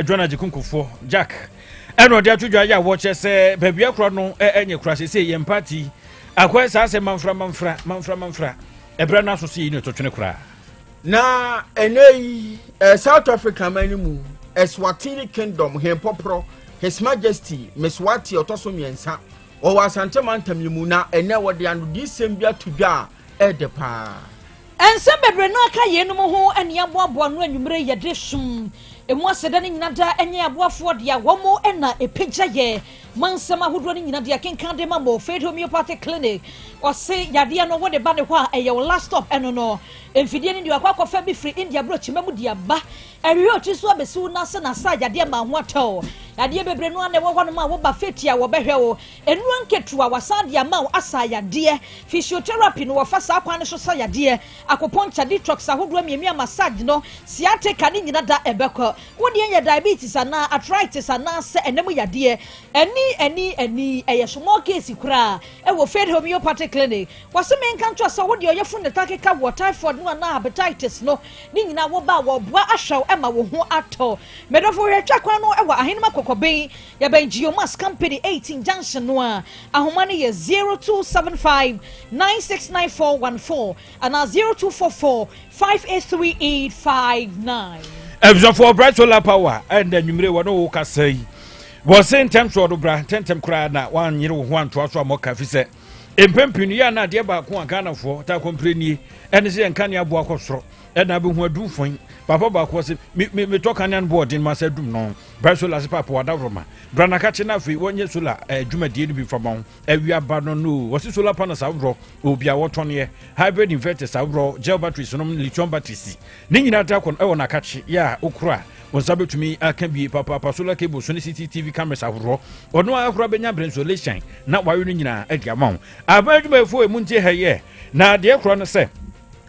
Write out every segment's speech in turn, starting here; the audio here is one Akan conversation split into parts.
John Agyekunkufoɔ Jack ɛna ɔde ato dwa yɛ a wɔkyɛ sɛ baabi akora no ɛnyɛ kora sɛ sɛ yɛn paati akɔyɛ saa sɛ manfra manfra manfra manfra ɛberɛ no aso sɛ yɛyi no ɛtotwene koraa na ɛnɛ yi eh, south africa man no mu eswatini kingdom hɛn pɔporɔ his majesty meswati ɔtɔ so mmiɛnsa ɔwɔ asante mantam yi mu na ɛnɛ wɔde anodisɛm bi ato dwa a Ɛɛdɛ paa. Nsɛm bebree na aka yeinom ho ne yɛaboaboa ano anwumerɛ yi yɛde som ɛmu aseda no nyina daa ɛnyɛ aboafoɔ dea wɔn mo na ɛpagya yɛ ma nsɛm ahodoɔ no nyina dea kenkan de ma mo Faith Homeopathic Clinic ɔse yadeɛ no wode ba ne hɔ a ɛyɛ wo last stop ɛno no mfidie no deɛ wakɔ akɔfa bi firi India brɔkyima mu de aba ɛhwehwɛ ɔtiri so abɛsi wo nase na sa yadeɛ ma ho atɛw yadeɛ bebree no a na ɛwɔ hɔ nom a woba feti a wɔbɛhwɛ wo Nnuro nketewa wɔasan de ama wo asa yadeɛ. Physiotherapy no wɔfa saa kwan no so sa yadeɛ. Acupuncture, detox ahodoɔ mmienu a massage no, sciatica ne nyina da ɛbɛkɔ. Wo deɛ yɛ diabetes anaa arthritis anaa sɛ ɛnam yadeɛ. Ani ani ani ɛyɛ small case koraa ɛwɔ Faith Homeopathic Clinic. Wɔse menka nkyerɛ wo sɛ wo deɛ ɔyɛfunu no taa keka woɔ, typhoid no anaa hepatitis no, ne nyina wo ba a wɔboa ahwɛ wo ɛma wo ho atɔ. Medɔfo hwɛ twa kwan no ɛwɔ Ahenema Kɔkɔben. Yɛbɛn Geomass Company eighteen junction no a, ahoma no yɛ zero two seven five nine six nine four one four anaa zero two four four five eight three eight five nine. abusuafoɔ bright solar power ɛnda anwummere wɔne wo kasa yi wɔ se ntɛm soɔ do bra ntɛntɛm koraa na woanyere wo ho antoa so a mɔka fi sɛ mpɛn pii no yɛ ana adeɛ baako a ghanafoɔ taa kɔmpire nie ɛne sɛ yɛn kanea aboa kɔ soro ɛna abɛhu adum fɔn papa baako ɔse metɔ kanea no boɔden ma sɛ adum no Bra solar ase papo wada roma. Bra na kache na afei wɔnyɛ solar eh, dwumadie no bi fa ma wo. Awia ba no no. Wɔse solar panels aworɔ, obi a wɔtɔneɛ, hybrid inverters aworɔ, gel batteries nom, lithium batteries. Ne nyinaa da kɔ ɛwɔ na kache yɛ a wokora. Wo nsa bɛtumi aka bie papaapa solar cable so ne CCTV cameras aworɔ. Ɔno ara kora bɛnya berɛ insulation na wawe no nyinaa adi ama wo. Aban adwumayɛfoɔ ɛmu nti ɛhɛyɛ. Na deɛ kora no sɛ,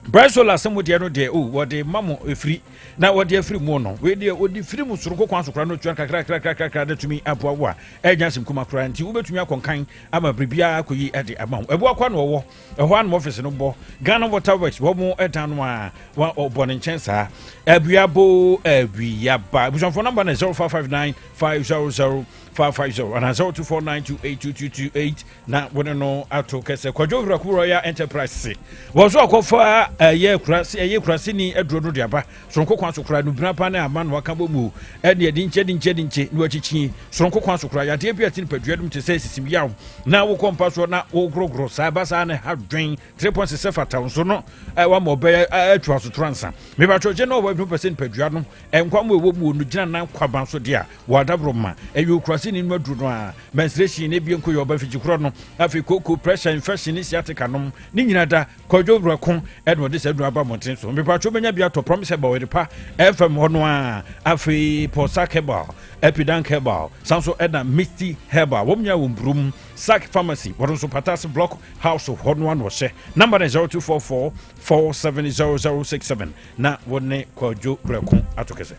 Bright Solar sɛ mo deɛ no deɛ o wɔde ma mo ɛfiri na wɔde afiri mu no wei deɛ ɔde firi mu soronko kwan so koraa no tua kakrakrakrakra na tumi aboa wo a ɛnya asɛm kuma koraa nti wobɛtumi akɔnkan ama biribiara akɔyi de ama wo ɛboa kwa na ɔwɔ ɛhɔ anoma ɔfise no bɔ ghana water works wɔ mo ɛdan no a ɔbɔ ne nkyɛn saa abuabo abuiaba abusuafoɔ namba no 0559 500 550 anaasɛ woto 49282228 na wo ne no ato kɛsɛ kwadwo huraku royal enterprise se wɔn so akɔfa ɛyɛ kurase ɛyɛ kuraseni aduro no de aba soronko kwan so kora nubina pa ne ama no aka bɔ mu ɛne ɛde nkyɛ de nkyɛ de nkyɛ na wakyikyi soronko kwan so kora yadeɛ bi a ɛte nipadua nom te sɛ sisim yaw na wokɔ mpa soɔ na wogorogoro saa ɛba saa ne ha dwen three points sɛ fata nso no ɛwɔ ma ɔbɛyɛ atu asotora nsa mebatwɔgye na ɔwɔ adwuma pɛ sɛ nipadua nom nkwa mu ɛwɔ mu no gyina nan kwaban so deɛ a Wɔ adaboro ma ɛyɛ okuraseni no aduru no a, menstruation na ebien ko yɛ ɔba fikyikura no. Afei koko, pressure, infection ne sciatica nom ne nyina da. Kwadwo wura ko ɛna ɔde saa aduru aba mmɔnten so. Mepatwo menya bi atɔ promise herbal ɛde pa ɛfam hɔ no a. Afei pɔ sack herbal, epidank herbal, san so ɛna misty herbal. Wɔn nyinaa wɔ mburum sack pharmacy. Wɔn nso pata ase block house hɔ no a na ɔhyɛ. Number no 0244 470067 na wɔne kwadwo wura ko ato kɛsɛ.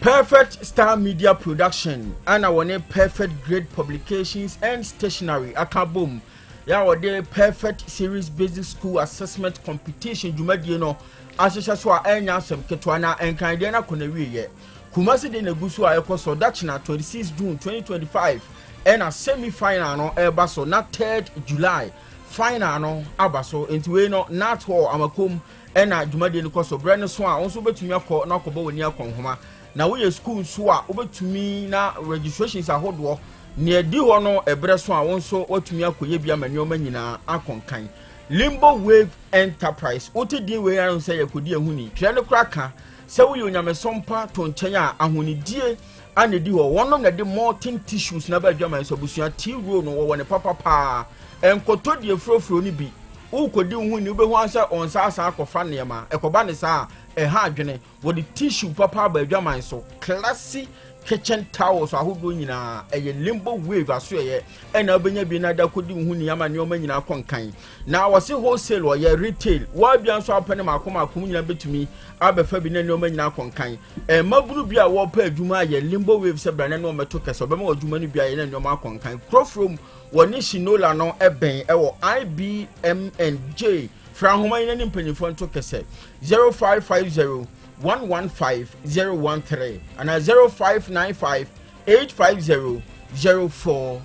Perfect Star Media Production a na wɔne Perfect Grade Publications and Stationery aka bom yɛ a wɔde Perfect Series Basic School Assessment Competition dwumadie no ahyehyɛ so a ɛnyɛ asɛm ketewa na nkan deɛ no akɔ n'awieɛ. Kumasi de na egu so a ɛkɔ so dakyina 26 June 2025 ɛna semi final no ɛreba so na 3rd July final no aba so nti wei no Nat Hall Amakom na dwumadie no kɔ so. Berɛ no so a, wo nso wobɛtumi akɔ na akɔbɔ w'ani akɔ nhoma. Na woyɛ sukuu nso a, wobɛtumi na registrations ahodoɔ nea ɛdi hɔ no ɛberɛ so a, wo nso woatumi akɔyɛ bi ama nneɛma nyinaa akɔ nkan. Limbo Wave Enterprise, wote din wei ara hu sɛ yɛkɔdi ahoni. Twerɛ no koraa ka Sɛ woyɛ onyamesom pa to nkyɛn a, ahonidie ana edi hɔ. Wɔnom na ɛde molten tissues na ɛbɛ adwaman so abusua tea roll no wɔwɔ ne papa paa. Ɛnkɔtɔ die furofuro no bi. Wokɔdi wo ho ni wobɛhu ansɛ ɔnsa asan akɔfa nneɛma. Ɛkɔba ne saa a, ɛha adwene. Wɔde tissue papa aba adwaman so. Classy kitchen towels ahodoɔ nyinaa ɛyɛ limbo wave asoɛyɛ ɛna wobɛnya bi na ada kɔdi wo ho ni ama nneɛma nyinaa kɔ nkan. Na wɔsi wholesale wɔyɛ retail wɔadua nso apɛ ne mako mako mu nyinaa betumi abɛfa bi na nneɛma nyinaa akɔnkan mmabunu bi a wɔpɛ adwuma ayɛ limbo wave sɛ brane no ɔmɛto kɛse ɔbɛma wɔ adwuma no bi ayɛ na nneɛma akɔnkan kurofuro mu wɔ ne shinola no ɛbɛn ɛwɔ ibmnj fra nhoma yi na ne mpanyinfoɔ nto kɛse 0550 115013 anaa 0595 850 04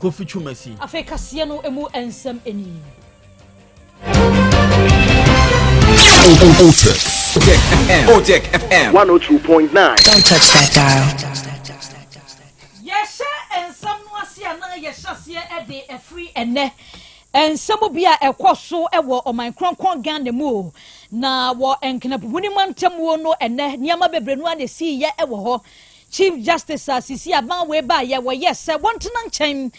Kofi Twumasi. Afei kaseɛ no emu nsɛm ni. Otek FM. Otek FM. 102.9. Don't touch that dial. Yɛhyɛ nsɛm no ase a na yɛhyɛ aseɛ de afiri ɛnɛ nsɛm bi a ɛkɔ so wɔ ɔman kronkron ghana mu o na wɔ nkenapuhuni mantamuo no ɛnɛ nneɛma bebree no a na ɛsii yɛ wɔ hɔ Chief Justice a sisi aban wei baeɛ wɔyɛɛ sɛ wɔntena nkyɛn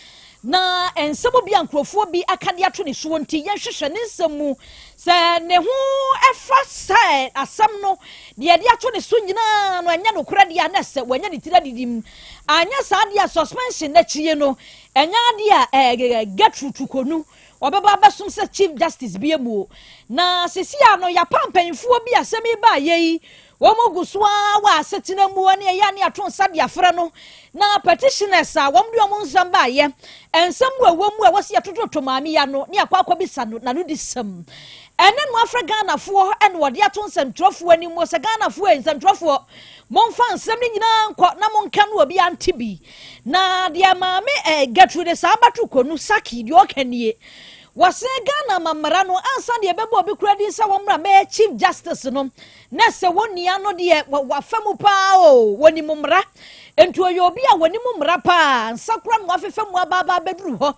na nsɛm bi a nkurɔfoɔ bi aka de ato ne soɔ nti yɛnhwehwɛ ne nsɛm mu sɛ ne ho ɛfa sɛ asɛm no deɛ de ato ne so nyinaa no ɛnyɛ nokorɛ deɛ a na sɛ wɔanya ne tiri adidi mu anyɛ saa deɛ a suspension no akyie no ɛnyɛ adeɛ a ɛɛ Gertrude Tukonu ɔbɛba abɛsom sɛ Chief Justice bi amuo na sisi a no yɛapa mpanyinfoɔ bi asɛm yi baeɛ yi Wɔgu so ara wɔ asetena mu ne ɛyɛ a ne yɛato nsa de afrɛ no, na petitioners a wɔde wɔn nsɛm baeɛ, nsɛm a ɛwɔ mu a ɛwɔ sɛ yɛtototo Maame yi ano ne yɛakɔ akɔbisa no n'anodisɛm. Ɛne no afrɛ Ghanafoɔ na wɔde ato nsɛntwerɛfoɔ anim wɔ sɛ Ghanafoɔ ei, nsɛntwerɛfoɔ, momfa nsɛm no nyinaa nkɔ na monka no obi ante bi. Na deɛ Maame eh, Gertrude Saabatu Konu Saki deɛ ɔka nie. Wɔse Ghana ma mmara no ansa deɛ ɛbɛbɔ obi kura din sɛ wɔmmra mɛyɛ Chief Justice no. Na sɛ wo nua no deɛ wafa mu paa o, wɔnim mmara. Enti ɔyɛ obi a wɔnim mmara paa, nsa kora na wafefa mu aba aba abɛduru hɔ.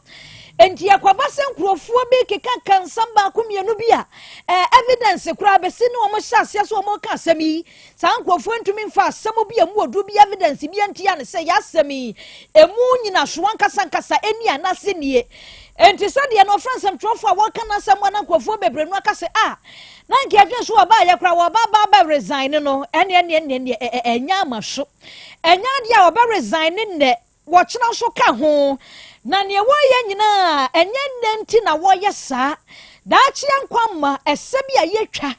Enti ɛkɔba sɛ nkurɔfoɔ bi kekaka nsɛm baako mmienu bi a ɛɛ evidence koraa bɛsi ne wɔn hyɛ aseɛ sɛ wɔka asɛm yi. Saa nkurɔfoɔ ntumi mfa asɛm bi a ɛmu ɔduru bi evidence bi ntia ne sɛ yɛ asɛm yi ɛmu nyinasoɔ ankasa ankasa ɛni anaasɛ nie. Enti sɛdeɛ na ɔfrɛ nsɛmtwerɛfoɔ a wɔka n'asɛm a na nkurɔfoɔ bebree no aka sɛ a Na nka yɛdwene so ɔbaa yɛ koraa wɔba aba abɛ resign ne no ɛne ɛne ɛne ɛne ɛ- ɛ- ɛnyɛ ama so ɛnyɛ adeɛ a ɔbɛ resign ne nnɛ wɔkyena nso ka ho na neɛ wɔyɛ nyinaa ɛnyɛ nnɛ nti na wɔyɛ saa daakyeɛ nkwa mma ɛsɛ bi a yɛtwa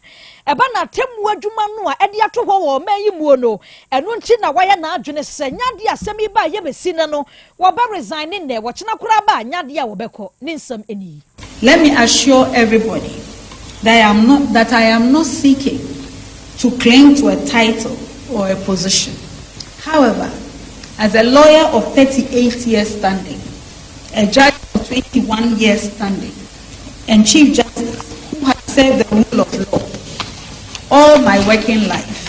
ɛba na atemmu adwuma no a ɛde ato hɔ wɔ ɔman yi muo no ɛno nti na wɔyɛ n'adwene sɛ nyɛ adeɛ a asɛm yi ba a yɛbɛsi nɛ no Wɔbɛ resign ne nnɛ wɔkyena koraa ba a nyɛ adeɛ a wɔbɛkɔ ne nsɛm ɛne yi. Let me assure everybody that I am not that I am not seeking to cling to a title or a position. However, as a lawyer of thirty eight years standing, a judge of twenty one years standing, and Chief Justice who has served the rule of law all my working life,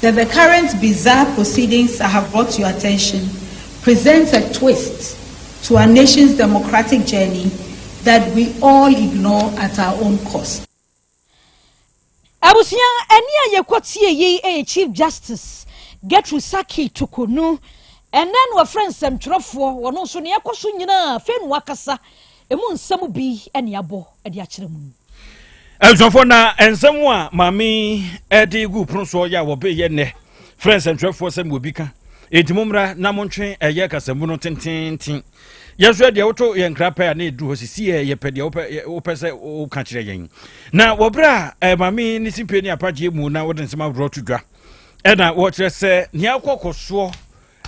The the current bizarre proceedings I have brought to your attention presents a twist to our nation's democratic journey that we all ignore at our own cost. Abusua, ɛnne a yɛkɔ tie yi yɛ Chief Justice Gertrude Sackey Tuku no. Ɛnnɛ na wɔfrɛ nsɛmtwerɛfoɔ, wɔn nso nea ɛkɔ so nyinaa afei na wɔakasa. Emu nsɛm bi ne abɔ de akyerɛ mu. Abusuafoɔ na nsɛm a maame de gu pono soɔ yɛ a wɔbɛyɛ nnɛ frɛ nsɛntwerɛfoɔ sɛ mewɔ bi ka enti mommra na montwe ɛyɛ kasamu no tententen yɛnso yɛ deɛ woto yɛn nkra pɛ a na ɛduru hɔ sisi yɛ yɛpɛ deɛ wopɛ sɛ woka kyerɛ yɛn na wɔberɛ a maame ne simpie ne apagyeɛ mu na wode nsɛm aworɔ to dwa ɛna wɔkyerɛ sɛ nea akɔkɔ soɔ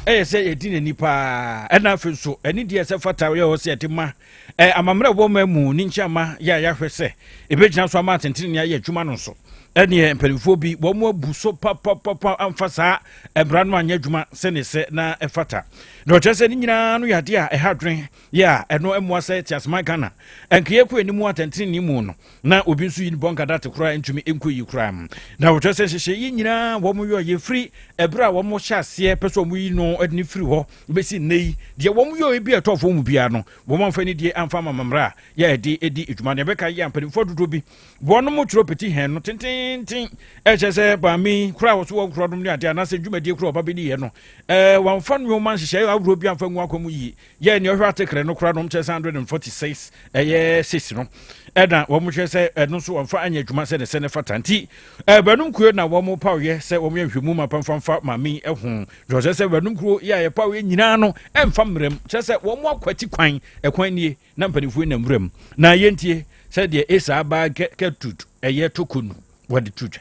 ɛyɛ sɛ yɛdi n'ani paa ɛna afei nso ɛne deɛ sɛ fata yɛ hɔ sɛ yɛde ma ɛ amammerɛ ɛwɔ ma mu ne nkyɛn ma yɛ a yɛahwɛ sɛ ɛbɛgyina so ama atɛntɛnni ayɛ adwuma no nso ɛneɛ mpanimfoɔ bi wɔn mu abu so papapapa amfa saa mmara no anyɛ adwuma sɛne sɛ na ɛfata na ɔkyerɛ sɛ ne nyinaa no yɛ adeɛ a ɛha adwene yɛ a ɛno mmoa sɛ te aseman ghana ɛnkeyɛ kɔ anim atɛntɛnni mu no Na obi nso yi ne bɔnka date koraa ntumi nkɔ yi koraa. Na wɔkyerɛ sɛ nhyehyɛ yi nyinaa wɔn yɔ yɛ firi ɛberɛ a wɔn hyɛ aseɛ pɛ sɛ wɔn yi no ɛde ne firi hɔ bɛsi nnɛ yi deɛ wɔn yɔ ebi ɛtɔ fɔm mu biara no wɔn amfa ni deɛ amfa ama mammerɛ a yɛ ɛde ɛdi adwuma deɛ ɛbɛka yɛ mpanimfoɔ dodoɔ bi wɔn mo twerɛ peti hɛn no tententen ɛkyɛ sɛ baami koraa wɔso wɔn korɔ nom ne adeɛ anaasɛ dwumadie korɔ ɔba bɛdi yɛ no ɛɛ wɔn amfa nneɛma nhyehyɛ ahodoɔ bi amfa ngu akɔ mu yie yɛ nea ɔhwɛ atekere no kora no ɔmkyɛ sɛ 146 ɛyɛ 6 no ɛna wɔn hwɛ sɛ ɛno nso wɔmfa anyɛ adwuma sɛ ne sɛ ne fata nti ɛbɛnum kuro na wɔn paw yɛ sɛ wɔn yɛ nhwɛmu ma pamfamfa maame ɛho dɔsɛ sɛ ɛbɛnum kuro yɛ a yɛpaw yɛ nyinaa no ɛmfa mmerɛm kyerɛ sɛ wɔn akwati kwan ɛkwan nie na mpanimfoɔ nam wuram na yɛntie sɛ deɛ ɛsaa baa kɛ kɛ tut ɛyɛ tokonu wɔde tu dwa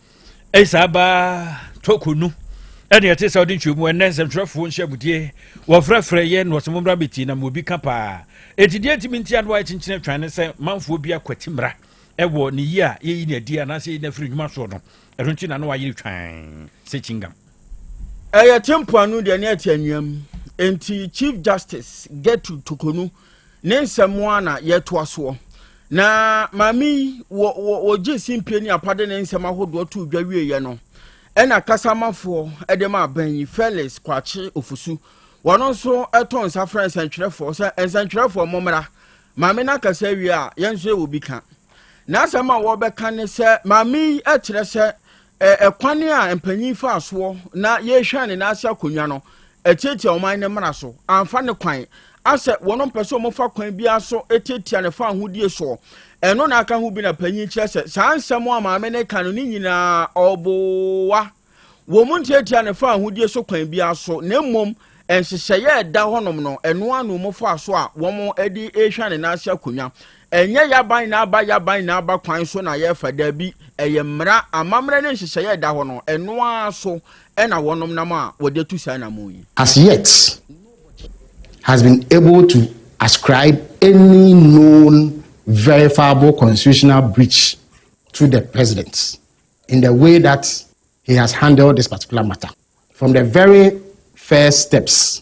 ɛyɛ saa baa tɔkɔ nu ɛne ɛte sɛ ɔde ntwam ɛnɛ nsɛmtwerɛfoɔ nhyɛmudie wɔfrɛfrɛ yɛ na wɔsɛ mommra bɛtie na mobi ka paa ɛti deɛ ntimi nti a na wayɛ kyenkyene atwan ne sɛ manfoɔ bi akwati mmra ɛwɔ ne yie a yɛyi ne adi anaasɛ yɛyi no afiri nnwuma soɔ no ɛno nti na na wayere twan sɛ kyingam ɛyɛ te mpoano deɛ ne ɛte annuam enti chief justice gertrude tokonu Ne nsɛm ara na yɛtoa soɔ. Na maame yi wɔ wɔ wɔgye simpie ne apade ne nsɛm ahodoɔ too dwa wieeɛ no ɛna kasamafoɔ ɛde ma aban yi Felix Kwakye Ofosu wɔn nso ɛto nsa frɛ nsɛntwerɛfoɔ sɛ nsɛntwerɛfoɔ mommra maame no akasa awie a yɛn nso yɛwɔ bi ka n'asɛm a wɔbɛka ne sɛ maame yi ɛkyerɛ sɛ Ɛkwan a mpanyin faa soɔ na yɛhwɛn ne nan ase akonnwa no, ɛtiatia ɔman no mmara so, amfa ne kwan, asɛ wɔn mpɛ sɛ wɔfa kwan biara so tiatia ne fawohodie soɔ. Ɛno na aka ho bi na panyin kyerɛ sɛ saa nsɛm a maame no ka no ne nyinaa ɔboa. Wɔn ntiatia ne fawohodie so kwan biara so, na mmom nhyehyɛeɛ a ɛda hɔnom no, ɛno ara na wɔn faa so a wɔn de rehwɛn ne nan ase akonnwa. Ɛnyɛ Yaban na aba Yaban na aba kwan so na yɛfa, dabi, ɛyɛ mmara, amammerɛ ne nhyehyɛeɛ a ɛda hɔ no, ɛno ara so na wɔnom nam a wɔde atu saa anammɔn yi. As yet, has been able to ascribe any known verifiable constitutional breach to the President in the way that he has handled this particular matter from the very first steps.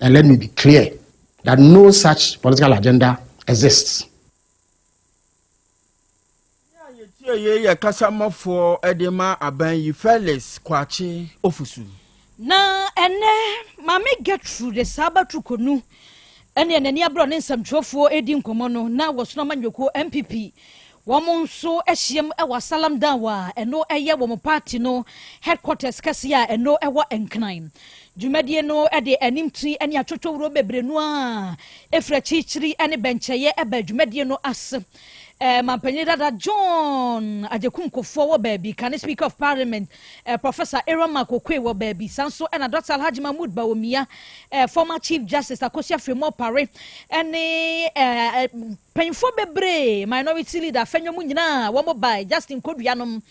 And let me be clear that no such political agenda exists. Tie yei yɛ kasamafoɔ de ma aban yi Felix Kwakye Ofusu. Na ɛnɛ maame Gertrude Saabatu Konu ɛne n'ani abrɔ ne nsɛmtwerɛfoɔ redi nkɔmmɔ no na wɔsono amanyɔkuo MPP Wɔn nso ahyiam wɔ Salam Dawah a ɛno yɛ wɔn party no headquarters kɛseɛ a ɛno wɔ Nkran. Dwumadie no de animti ne atwotwowuro bebree no ara firi akyirikyiri ne bɛnkyɛeɛ baa dwumadie no ase. Manpanin dada John Agyekum Kufour wɔ baabi, kane Speaker of Parliament Professor Aaron Mark Oquaye wɔ baabi, saa nso na Dɔkta Alhaji Mahmood Bawumia, former Chief Justice Akosua Firimo Opare ne Panyinfoɔ bebree, minority leader, fɛ nnwom nyinaa wɔn bae, Justin Kodua nom.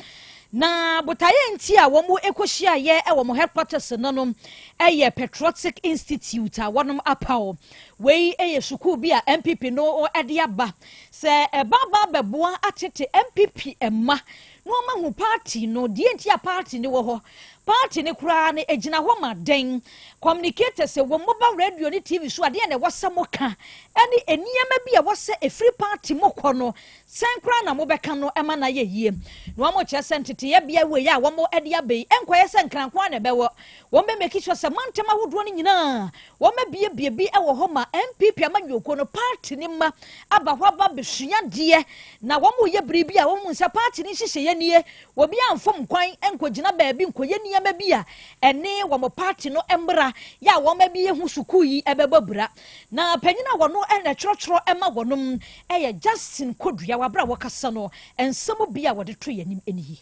Na botaeɛ nti a wɔn ɛkɔ hyiaeɛ ɛwɔ wɔn headquarters no nom ɛyɛ Patriotic Institute a wɔnom apaw. Wei ɛyɛ sukuu bi a NPP no ɛde aba sɛ ɛba aba abɛboa atete NPP mma Momma hu party no, deɛ nti a party no wɔ hɔ, party no koraa no ɛgyina hɔ ma dɛn, communicators wɔ mobile radio ne TV so a deɛn na ɛwɔ sɛ moka, ɛne nneɛma bi a ɛwɔ sɛ ɛfiri party mu kɔ no, sɛn koraa na mobɛka no ma no ayɛ yie. Na wɔkyerɛ sɛ nteteeɛ beaɛ wei a wɔde aba yi, ɛnkɔyɛ sɛ Nkrankwo ara na ɛbɛwɔ, wɔbɛ make sure sɛ mantam ahodoɔ no nyinaa wɔabiebie bi wɔ hɔ ma NPP amanyɔkuo no, party no mma aba hɔ aba abɛsua adeɛ, Na wɔreyɛ biribi a wɔahu sɛ paati no nhyehyɛeɛ nie. Obiara mfom kwan nkɔgyina baabi nkɔyɛ nneɛma bi a ɛne wɔn paati no mmara yɛ a wɔn de ahu sukuu yi bɛbɔ abira. Na panyin a wɔn na ɛtwerɛtwerɛ ma wɔn yɛ Justin Koduawa. Berɛ a wɔkasa no, nsɛm bi a wɔde too yɛn anim nie.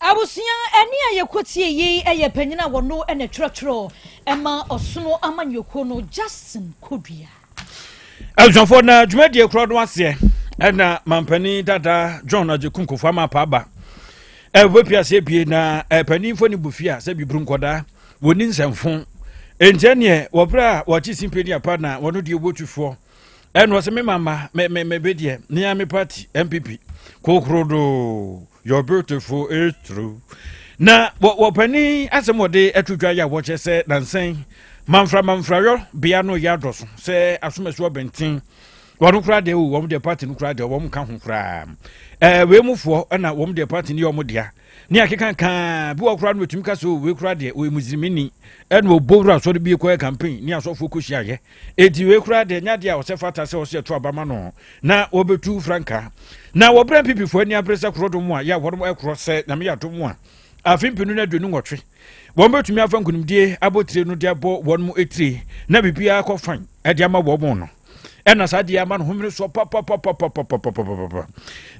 Abusua ɛne a yɛkɔtie yi yɛ panyin a wɔno na twerɛtwerɛ ɛma ɔsono amanyɔkuo no Justin Kodua. Abusuafoɔ na dwumadie korɔ no aseɛ ɛna mampanin dada John Agyeku Nkofoɔ ama apaaba ɛbɛpia aseɛ pie na ɛpaninfoɔ ne bufia sɛ biburu nkɔdaa wɔni nsɛmfo ɛntiɛ neɛ wɔberɛ a wɔakye simpie ne apa na wɔno deɛ wɔtufoɔ ɛna ɔsɛ me mama mebɛdeɛ ne a me party MPP kokoro doo You're beautiful, it's true. Na wɔpanin asɛm wɔde ato dwa yɛ a wɔkyɛ sɛ nansɛn manfra manfrayɔ bea no yɛ adɔ so sɛ asomasu ɔbɛnten wɔn koraa deɛ o wɔn deɛ party no koraa deɛ wɔn ka ho koraa ɛɛ wei mu foɔ ɛna wɔn deɛ party no yɛ wɔn dea ne akekankaa bi wɔ koraa no wɔtumi ka sɛ o wei koraa deɛ o emusirimi ni ɛna ɔbɔ wura asɔre bi kɔɛ campaign ne asɔfoɔ kɔ hyia yɛ Enti wei koraa deɛ ɛnyɛ adeɛ a ɔsɛ fata sɛ ɔsɛ ɛto aba ma no na wɔbɛtu frankaa. Na wɔbrɛ mpipifoɔ ani abere sɛ korodom a yɛ a wɔnom ɛkorɔ sɛ nyame yɛ adom a afe mpenu no aduonu nwɔtwe. Wɔn bɛtumi afa nkonimdie abotire no de abɔ wɔn mu etire na biribiara kɔ fan de ama wɔn no. Ɛna saa deɛ ama no homene soɔ papapapapapapapapa.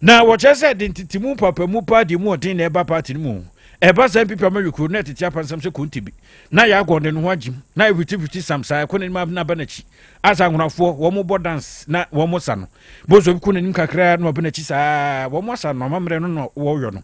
Na wɔkyerɛ sɛ de ntetemu papamu paa deɛ mu ɔden na ɛba paati no mu. Ɛba saa mpipi ama yɛ kuro na ɛtete apansam sɛ konte bi. na yɛagɔ ne no ho agyim na ɛhwitihwiti sam saa ɛkɔ n'anim abena ba n'akyi asa ahonafoɔ wɔn bɔ dance na wɔn sa no bozo bi kɔ n'anim kakra na ɔbɛ n'akyi saa wɔn asa no amammerɛ no na wɔyɔ no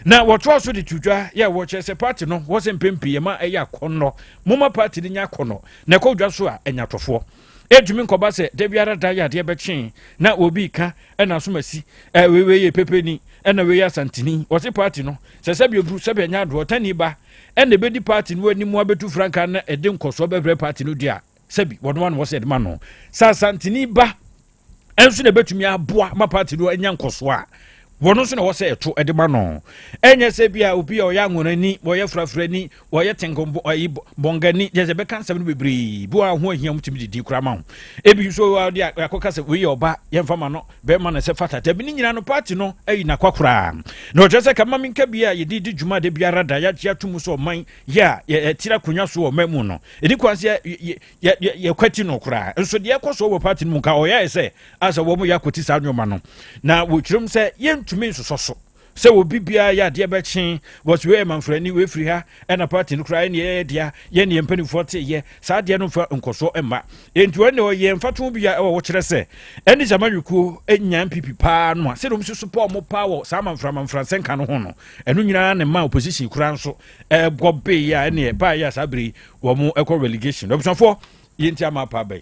na wɔtoa so de to dwa yɛ wɔkyerɛ sɛ party no wɔsɛ mpɛn pii ɛma ɛyɛ akɔnnɔ moma party no nya akɔnnɔ na ɛkɔ dwa so a ɛnya tɔfoɔ ɛtumi nkɔba sɛ da biara da yɛ adeɛ bɛkyee na obi ka ɛna asomasi ɛwei wei yɛ pepeni ɛna wei yɛ asantini wɔse party no sɛ sɛbi oduru sɛbi ɛnya adoɔ tani ba ɛna ɛbɛdi party no anim abɛtu frankaa na ɛde nkɔsoɔ bɛbrɛ party no deɛ a sɛbi wɔn ano wɔ sɛ ɛde ma no sɛ asantini ba ɛnso na ɛbɛtumi aboa ma party no anya nkɔsoɔ a wɔn nso na ɛwɔ sɛ ɛto ɛde ma no ɛnyɛ sɛ bi a obi a ɔyɛ anwonani wɔyɛ frafrani wɔyɛ tenkonbo ayi bɔngani yɛ sɛ bɛka nsɛm no bebree bi wɔ ho ahia mu tumi didi kura ma ho ebi nso wɔ ɔde akɔka sɛ wei yɛ ɔba yɛmfa ma no bɛma no sɛ fata dabi ne nyinaa no party no ayi nakwa koraa na ɔkyerɛ sɛ kama me nka bia a yɛde di dwuma da biara da yɛagye ato mu sɛ ɔman yɛ a yɛtiri akonnwa so wɔ ɔman mu no ɛdi kwan sɛ yɛkwati no koraa nso deɛ ɛkɔ so wɔ party no mu nka ɔyɛɛ sɛ asɛ wɔn yɛ akɔti saa nneɛma no na wɔkyerɛm sɛ yɛntumi nsosɔ so sɛ obi biara yɛ adeɛ bɛkye wɔs wei yɛ manfrani wei firi ha ɛna party no koraa ɛne yɛyɛ dea yɛ ne yɛn mpanimfoɔ te yɛ saa adeɛ no mfa nkɔsoɔ mma enti wɔn deɛ ɔyɛ mfato bi a ɛwɔ wɔkyerɛ sɛ ɛne sɛ amanwekuo nyan pipi paa no a sɛdeɛ wɔn si so pɔ wɔn paa wɔ saa manfra manfra nsɛnka no ho no ɛno nyinaa ne ma opposition koraa nso ɛbɔ bee a ɛne ɛbaa yɛ a saa bere wɔn ɛkɔ relegation abusuafoɔ yɛnti ama apa abɛn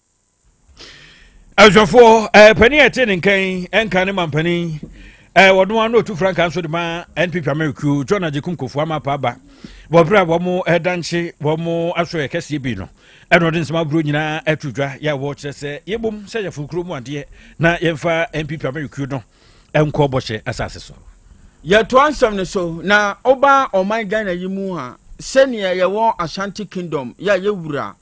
ɛhwɛfoɔ eh, panin a ɛte ne nkan eh, nka ne mampanin eh, wɔn ano otu frankaa nso de ma npp amerikuo john agyekum kofoɔ ama pa aba wɔberɛ a wɔn ɛdankye wɔn aso yɛ kɛseɛ bi no ɛna ɔde nsɛm aburo nyinaa ato dwa yɛ a wɔkyerɛ sɛ yɛbom sɛ yɛforo kuro mu adeɛ na yɛmfa npp amerikuo no nkɔ bɔhyɛ asase so yɛtoa nsɛm no so na ɔba ɔman ghana yi mu a sɛnea yɛwɔ ashanti kingdom yɛ a yɛwura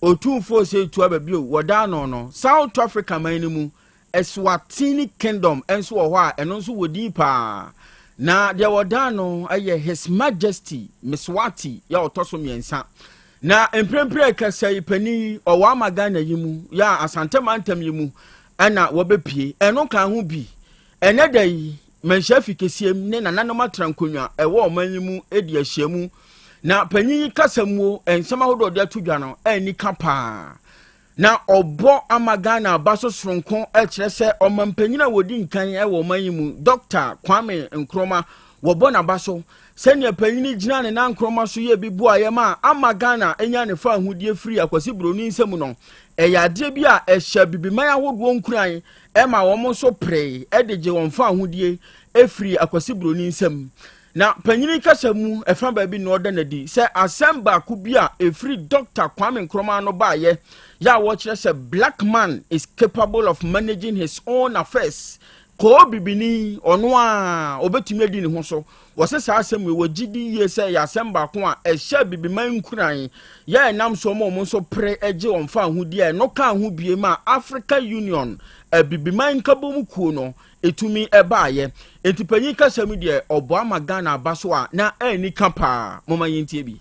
Otumfoɔ Osei Tuabe bio, wɔdaa no no. South Africa man no mu, Eswatini Kingdom nso wɔ hɔ a ɛno nso wɔ din paa. Na deɛ wɔdaa no yɛ His Majesty Mswati yɛ a ɔtɔ so mmiɛnsa. Na mprempren kasa yi panin yi ɔwɔ ama Ghana yi mu yɛ a Asante mantam yi mu ɛna wɔbɛpie. Ɛno kan ho bi Ɛnnɛ da yi, manhyia afi kɛseɛ mu ne nananom atra nkonnwa ɛwɔ ɔman yi mu di ahyiamu, na panyin yi kasa muo nsɛm ahodoɔ ɔde ato dwa no anni ka paa. Na ɔbɔ ama Ghana aba so soronko kyerɛ sɛ ɔmampanyin a wɔdi nkan wɔ ɔman yi mu, Dɔkta Kwame Nkrumah, wɔbɔ n'aba so. Sɛnea panyin yi gyinaa ne nan Nkrumah so yɛɛ bi boaeɛ ma ama Ghana anya ne fawohodie firi Akwasi Buroni nsam no, ɛyɛ adeɛ bi a ɛhyɛ Abibiman ahodoɔ nkuran ɛma wɔn nso peree de gye wɔn fawohodie firii Akwasi Buroni nsam. Na panyini kasa mu ɛfa baabi na ɔda no adi sɛ asɛm baako bi a ɛfiri Dɔkta Kwame Nkrumah no baeɛ yɛ a wɔkyerɛ sɛ black man is capable of managing his own affairs kɔɔ bibini ɔno a ɔbɛtumi adi ne ho so Wɔse saa asɛm wei wɔgye di yie sɛ ɛyɛ asɛm baako a ɛhyɛɛ Abibiman nkuran yɛ a ɛnam so ma wɔn nso pere gye wɔn faahodi a ɛno kaa ho biem a Africa Union Abibiman Nkabom Kuo no tumi baeɛ. Enti panyin kasa mu deɛ ɔboa ma Ghana aba so a na anni ka paa. Momma yɛntie bi.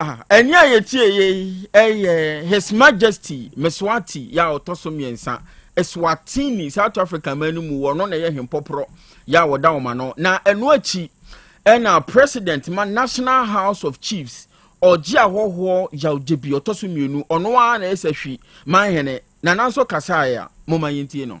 Ah, ɛne a yɛtie yɛ yi ɛyɛ His Majesty Meswati yɛ a ɔtɔ so mmiɛnsa Eswatini South Africa man no mu wɔno na ɛyɛ hempɔporɔ yɛ a wɔda wɔn ano na ɛno akyi ɛna president ma National House of Chiefs ɔgye ahɔhoɔ yawgye bi ɔtɔ so mmienu ɔno ara na ɛsɛ hwi man hene na nanso kasaeɛ a moma yɛntie no.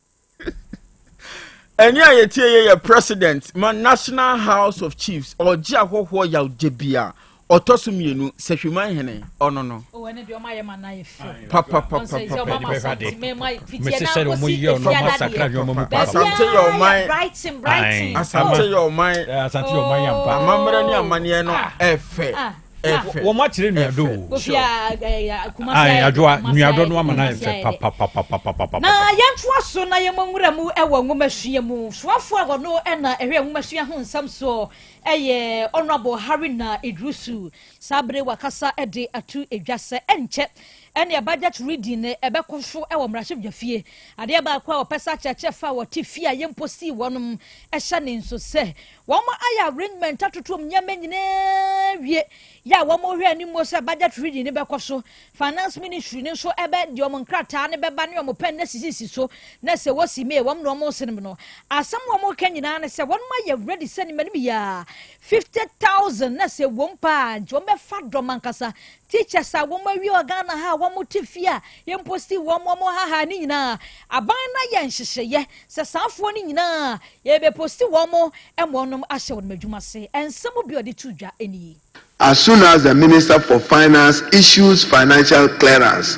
ɛne a yɛtie yɛ yɛ president ma national house of chiefs ɔgye ahɔhoɔ yawgye bi a ɔtɔ so mmienu sɛhwiman hene ɔno no asante yɛ ɔman asante yɛ ɔman amammerɛ ne amanneɛ no ɛfɛ wɔn akyerɛ nuadɔ o ayi adwoa nuadɔ no ama n'ayɛ fɛ papapapapapa. na yɛntoa so na yɛmmɔ nwura mu wɔ nwomasua mu soafo a ɔno na ɛhwɛ nwomasua ho nsɛm soɔ ɛyɛ honourable harina idrusu saa bere wakasa de ato edwa sɛ ɛnkyɛ ɛne budget reading no ɛbɛkɔ so wɔ mmarahyɛbadwafie adeɛ baako a wɔpɛ sɛ akyerɛkyerɛ fa wɔte fie a yɛmpo sii wɔnom ɛhyɛ ne nso sɛ Wɔma ayɛ arrangement atotom nneɛma nyinaa wie yɛ a wɔhwɛ anim mo sɛ budget reading no bɛkɔ so. Finance ministry no nso ɛbɛ de wɔn nkrataa no bɛba ne wɔn pɛn no asisisi so na sɛ wɔsi May wɔn na wɔn senem no. Asɛm a wɔka nyinaa ne sɛ wɔn ayɛ ready sɛ ne mmanim yɛ a 50,000 na sɛ ɛwom paa nti wɔn bɛfa dɔm ankasa Teachers a wɔn awie wɔ Ghana ha a wɔn te fie a yɛ mpo still wɔn wɔn ha ha ne nyinaa aban na yɛ nhyehyɛeɛ sɛ saafoɔ no nyinaa yɛbɛ posti wɔn ɛma wɔn ahyɛ wɔn adwuma se nsɛm bi a ɔde to dwa nie. As soon as the Minister for Finance issues financial clearance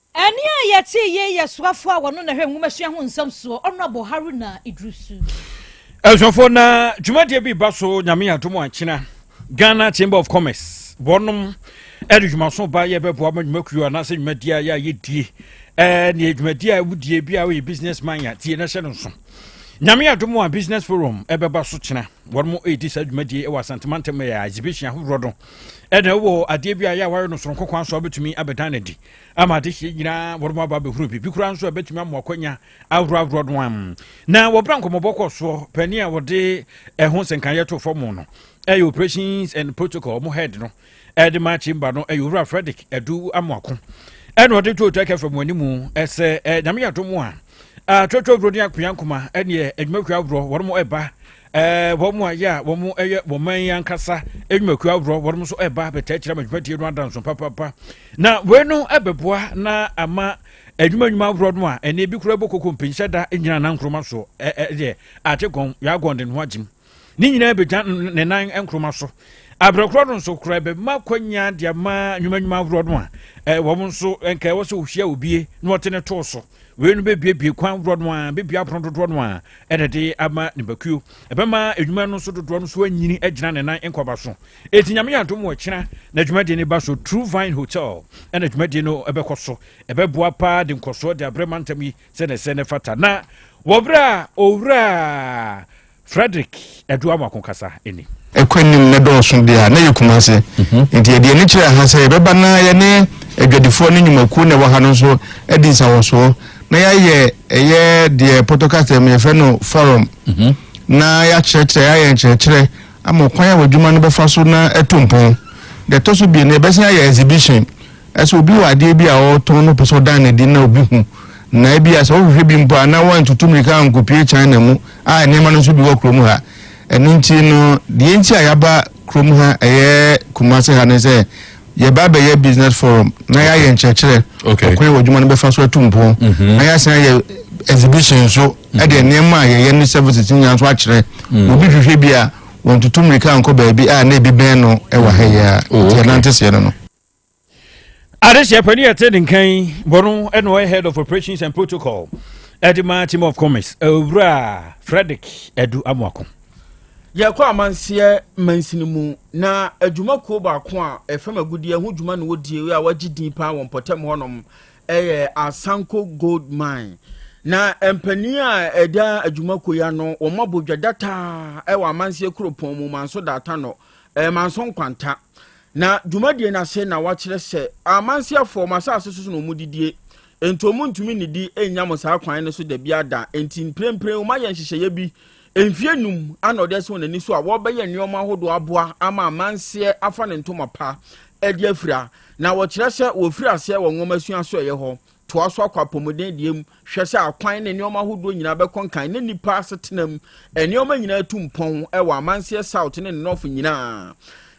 Ɛnne a yɛtee yi yɛ soafo a wɔno na ɛhwɛ nwomasua ho nsɛm soɔ, Honourable Haruna Iddrisu. Abusuafo na dwumadie bi ba so nyame adom ankyena Ghana Chamber of Commerce wɔnom ɛde dwumaso ba yɛ bɛboa ma dwumakuo anaasɛ dwumadie a yɛ a yɛdie ɛne dwumadie a wodie bi a woyɛ business man a tie na hyɛ no nso nyame adom a business forum ɛbɛba so kyena wɔnom ɛdi saa dwumadie ɛwɔ asantemantam ɛyɛ exhibition ahodoɔ no ɛna ɛwɔ adeɛ bi a yɛ a wɔayɛ no soronko kwan so a wobɛtumi abɛdan no adi ama adehyeɛ nyinaa wɔn aba abɛhunu biribi koraa nso a ɛbɛtumi ama akwanya ahorow ahorow no am na wɔbra nkɔmmɔbɔ kɔ soɔ panin a wɔde ɛho nsɛnkaeɛ to fam no ɛyɛ operations and protocol mo head no ɛde ma chamber no ɛyɛ owura frederick adu amoako ɛna ɔde to otu akɛfɛ mo anim ɛsɛ ɛɛ nyame yɛ ato mo a atwotwo buroni akpea nkoma ɛneɛ adwumakuo ahorow wɔn mo ɛba Eh, wɔn mu ayɛ a wɔn yɛ wɔn man yi ankasa nnwumakuo ahoroɔ wɔn nso ɛba abɛtaa kyerɛ ama dwumadie no adanso papapa na wei no ɛbɛboa na ama adwuma nnwuma ahoroɔ no a ɛne ebi kura bɔ koko mpinhyɛ da nyina na nkroma soɔ ɛdeɛ ate gɔn yɛagɔn de ne ho agyim ne nyinaa bɛgya ne nan nkroma so abrɛkorɔ no nso kora ɛbɛma kwanya de ama nnwuma nnwuma ahoroɔ no a wɔn nso nka ɛwɔ sɛ wɔhyia obie na wɔte ne too so wei no bɛbuebue kwan dodoɔ no a bɛbua apono dodoɔ no a ɛna de ama nipakuo ɛbɛma adwuma no so dodoɔ no so anyini agyina ne nan nkɔba so ɛti nyame yɛ adom wɔ kyena na adwumadie no ba so true vine hotel ɛna adwumadie no ɛbɛkɔ so ɛbɛboa paa de nkɔsoɔ de abrɛ mantam yi sɛne sɛ ne fata na wɔberɛ a owura Frederick Aduawako kasa ni. Ɛkɔ anim na ɛdɔɔso deɛ a, na ɛyɛ Kumase. Mhm. Nti yɛde ani kyerɛ ha sɛ yɛbɛba na yɛne adwadifoɔ ne nnwumakuo na ɛwɔ ha no nso adi nsawɔsoɔ na yɛayɛ ɛyɛ deɛ pɔtɔkasa mu yɛfrɛ no forum mhm. na yɛakyerɛkyerɛ yɛayɛ nkyerɛkyerɛ ama ɔkwan a wɔadwuma no bɛfa so na ɛto mpɔn deɛ ɛtɔ so bie no yɛbɛsan ayɛ exhibition ɛsɛ obi wɔ adeɛ bi a ɔretɔn no pɛ sɛ ɔdan ne di na obi hu na ebi a sɛ wohwehwɛ bi mpo a na wɔantutu mmirika ankɔpie china mu a nneɛma no nso bi wɔ kurom ha. Ɛno nti no, deɛ nti a yɛaba kurom ha ɛyɛ Kumase ha ne sɛ yɛba bɛyɛ business forum na yɛayɛ nkyerɛkyerɛ ɔkwan wɔ adwuma no bɛfa so atu mpɔn mhm. na yɛasan ayɛ exhibition nso ɛde mhm. nneɛma a yɛyɛ ne services nyinaa nso akyerɛ mhm. obi hwehwɛ bi a wɔntutu mmirika nkɔ baabi a na ebi bɛn no ɛwɔ ha yi a nti ɛnante seɛ no no Adesua panin a ɛte ne nkan yi bɔ no ɛna ɔyɛ head of operations and protocol ɛde ma team of commerce owura Frederick Adu Amoako. Yɛkɔ amanseɛ mansini mu na adwumakuo baako a ɛfam agudeɛ ho dwuma na wɔdie a wɔagye din paa wɔ mpɔtam hɔnom ɛyɛ Asanko Gold Mine na mpanin a ɛda adwumakuo yi ano wɔn abɔ dwa dataa ɛwɔ amanseɛ kuropɔn mu manso daata no ɛɛ manso nkwanta Na dwumadie no ase na wɔakyerɛ sɛ amanseɛfoɔ, mo asase so na wɔdidie, enti wɔntumi nnidi nnya mo saa kwan no so dabiara da, enti mprempren wɔayɛ nhyehyɛeɛ bi, mfeɛ nnum ana wɔde asi wɔn ani so a wɔrebɛyɛ nneɛma ahodoɔ aboa ama amanseɛ afa ne ntoma pa de afira, na wɔkyerɛ sɛ wɔfiri aseɛ wɔ nwomasua so ɛyɛ hɔ, Toa so akɔ apɔmuden deɛ mu, hwɛ sɛ akwan ne nneɛma ahodoɔ nyinaa bɛkɔ nkan na nnipa asetena mu nneɛma nyinaa atu mpɔn wɔ Amanseɛ South ne ne nɔfo nyinaa.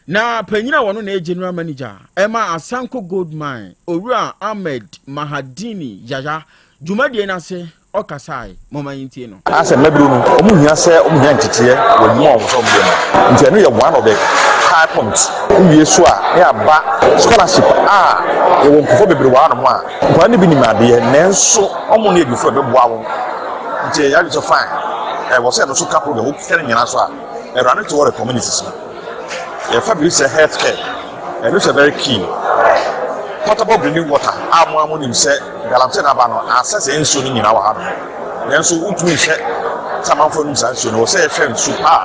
Na panyin a ɔno na ɛyɛ General Manager ɛma Asanko Gold Mine, Owura Ahmed Mahadini Yaya, dwumadie no ase ɔkasae. Momma yɛntie no. Anaasɛ mmabiri no, wɔhia sɛ wɔnya nteteɛ wɔ adwuma a wɔpɛ sɛ wɔyɛ mu. Enti ɛno yɛ one of the high points. Wowie so a, na yɛaba scholarship a yɛwɔ nkurɔfoɔ bebree wɔ hanom a nkwadaa no bi nim adeɛ nanso wɔnni adwufoɔ a ɛbɛboa wɔn. Nti yɛn adwene sɛ fine, ɛwɔ sɛ yɛde so ka program, wokeka ne nyinaa so a, awurade te wɔ the communities no. Yɛfa biribi te sɛ health care, ɛno nso yɛ very key. Potable drinking water a mo ara mo nim sɛ galamsey na aba no, ansɛ saa nsuo no nyinaa wɔ ha nom. Nanso wontumi nhwɛ sɛ amanfoɔ nom saa nsuo no, ɛwɔ sɛ yɛhwɛ nsu a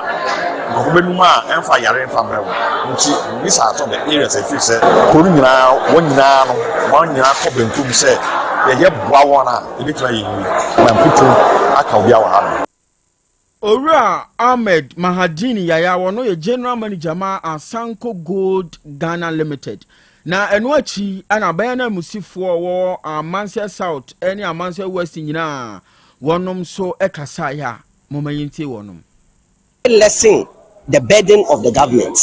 nkurɔfoɔ bɛnom a ɛmfa yareɛ mfa mmerɛ wɔn. Nti these are some of the areas a yɛfiri sɛ kuro no nyinaa, wɔn nyinaa no, wɔn nyinaa kɔ benkum sɛ yɛyɛ boa wɔn a, yɛbɛtumi ayɛ yie. Mamputu aka obiara wɔ ha nom. Owura Ahmed Mahadini Yaya a ɔno yɛ General Manager ma Asanko Gold Ghana Limited na ɛno akyi na bɛyɛ nanmusifoɔ wɔ Amansɛ South ne Amansɛ West nyinaa wɔnom nso kasaeɛ a momma yɛntie wɔnom. Lesson the burden of the government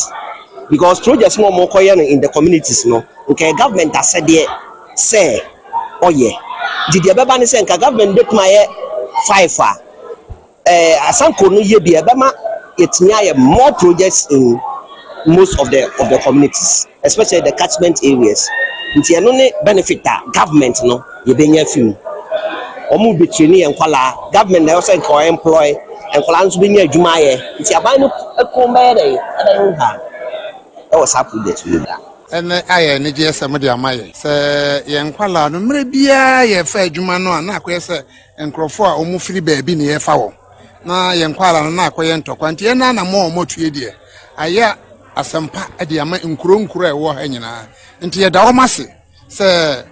because projects na ɔmo kɔyɛ no in the communities no nka yɛ government asɛdeɛ sɛ ɔyɛ nti deɛ ɛbɛba ne sɛ nka government bɛtumi ayɛ five a ɛɛ asanko no yɛ bi ɛbɛma yɛtumi ayɛ more projects in most of the of the communities. especially the catchment areas nti ɛno ne benefit a government no yɛbɛnya afi mu wɔn bɛtraini yɛn nkwadaa government na ɛwɔ sɛ nka employ nkwadaa nso bɛnya adwuma ayɛ nti aban no kɔn bɛyɛ dɛ ɛbɛyɛ nka ɛwɔ saa project no mu. ɛnɛ ayɛ anigyeɛ sɛ mode ama yɛ sɛ yɛn nkwadaa no mmerɛ biara yɛfa adwuma no a na akɔyɛ sɛ nkurɔfoɔ a wɔfiri baabi ne yɛfa wɔn na yɛn nkwadaa no na akɔyɛ ntɔkwa nti ɛnɛ na mo a wɔatue deɛ ayɛ asɛmpa de ama nkuro nkuro a ɛwɔ ha nyinaa nti yɛda wɔn ase sɛ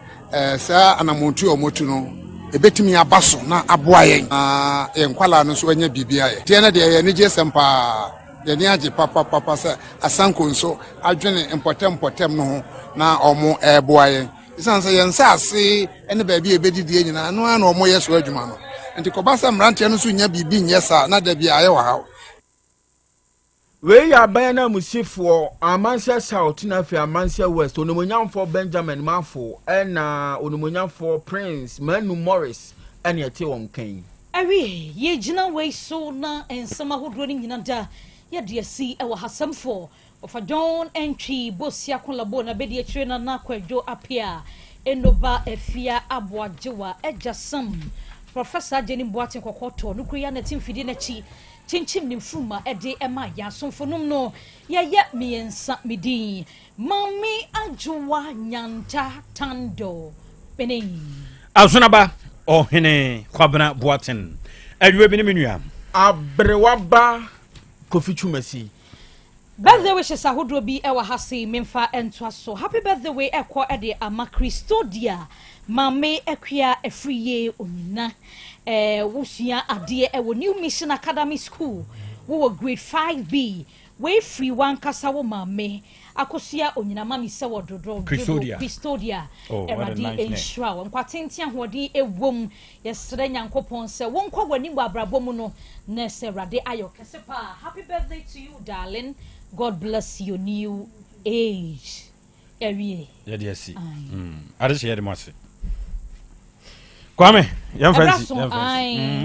saa anammɔntu a wɔatu no ɛbɛtumi aba so na aboa yɛn na yɛn nkwalaa no nso anya biribi ayɛ deɛ no deɛ yɛn anigye sɛm paa yɛne agye papapapa sɛ asanko nso adwene mpɔtam mpɔtam no ho na wɔn ɛreboa yɛn ɛsiane sɛ yɛn nsaase ne baabi a ɛbɛdidie nyinaa no ara na wɔyɛ so adwuma no nti kɔba sɛ mmeranteɛ no nso nya biribi nyɛ saa na da bi ayɛ wɔ haw Wei yɛ aban ananmusifoɔ, Amanseɛ South na afei Amanseɛ West, Onimuonyamfoɔ Benjamin Mafo ɛna Onimuonyamfoɔ Prince Manu Morris ɛna ɛte wɔn nka yi. Awie, yɛgyina wei so na nsɛm ahodoɔ no nyina da yɛde asi ɛwɔ ha. Asɛmfoɔ, Ɔfa John Antwi Bosea Kolabo n'abadiakyire Nana Kwadwo Appiah Enoba Afia Aboagyewa agya Sam Professor Agyeni Boateng kɔkɔ tɔɔ no kuro yi anɛte mfidie no akyi kyinkyim ne mfuruma de maa yɛn asomfo nom no yɛyɛ mmiɛnsa me din Maame Adwoa Nyanta Tando Pene. Azonaba Ɔhene Kwabena Boateng Awiabi ne me nua. Aberewa ba Kofi Twumasi. Birthday wishes ahodoɔ bi wɔ ha sei memfa ntoa so. Happy birthday wei ɛkɔ de ama Christodia Maame Akua ɛfiri yie onyina. Eh, wosua adeɛ wɔ New Mission Academy School. Wowɔ grade 5B. Wei firi wankasa wo maame akosua onyina mami sɛ wɔ dodo dodo Christodia. Christodia. Oh, what a Awurade nice name. nhyira wo. Nkwa tenten ahoɔden ɛwom. Yɛsrɛ Nyankopɔn sɛ wonkɔ w'anim wɔ abrabɔ mu no na sɛ Awurade ayɛ wo kɛse paa happy birthday to you darling God bless your new age yɛawie yɛde asi ade hyɛ yɛde mo ase Kwame yɛmfa nsi yɛmfa nsi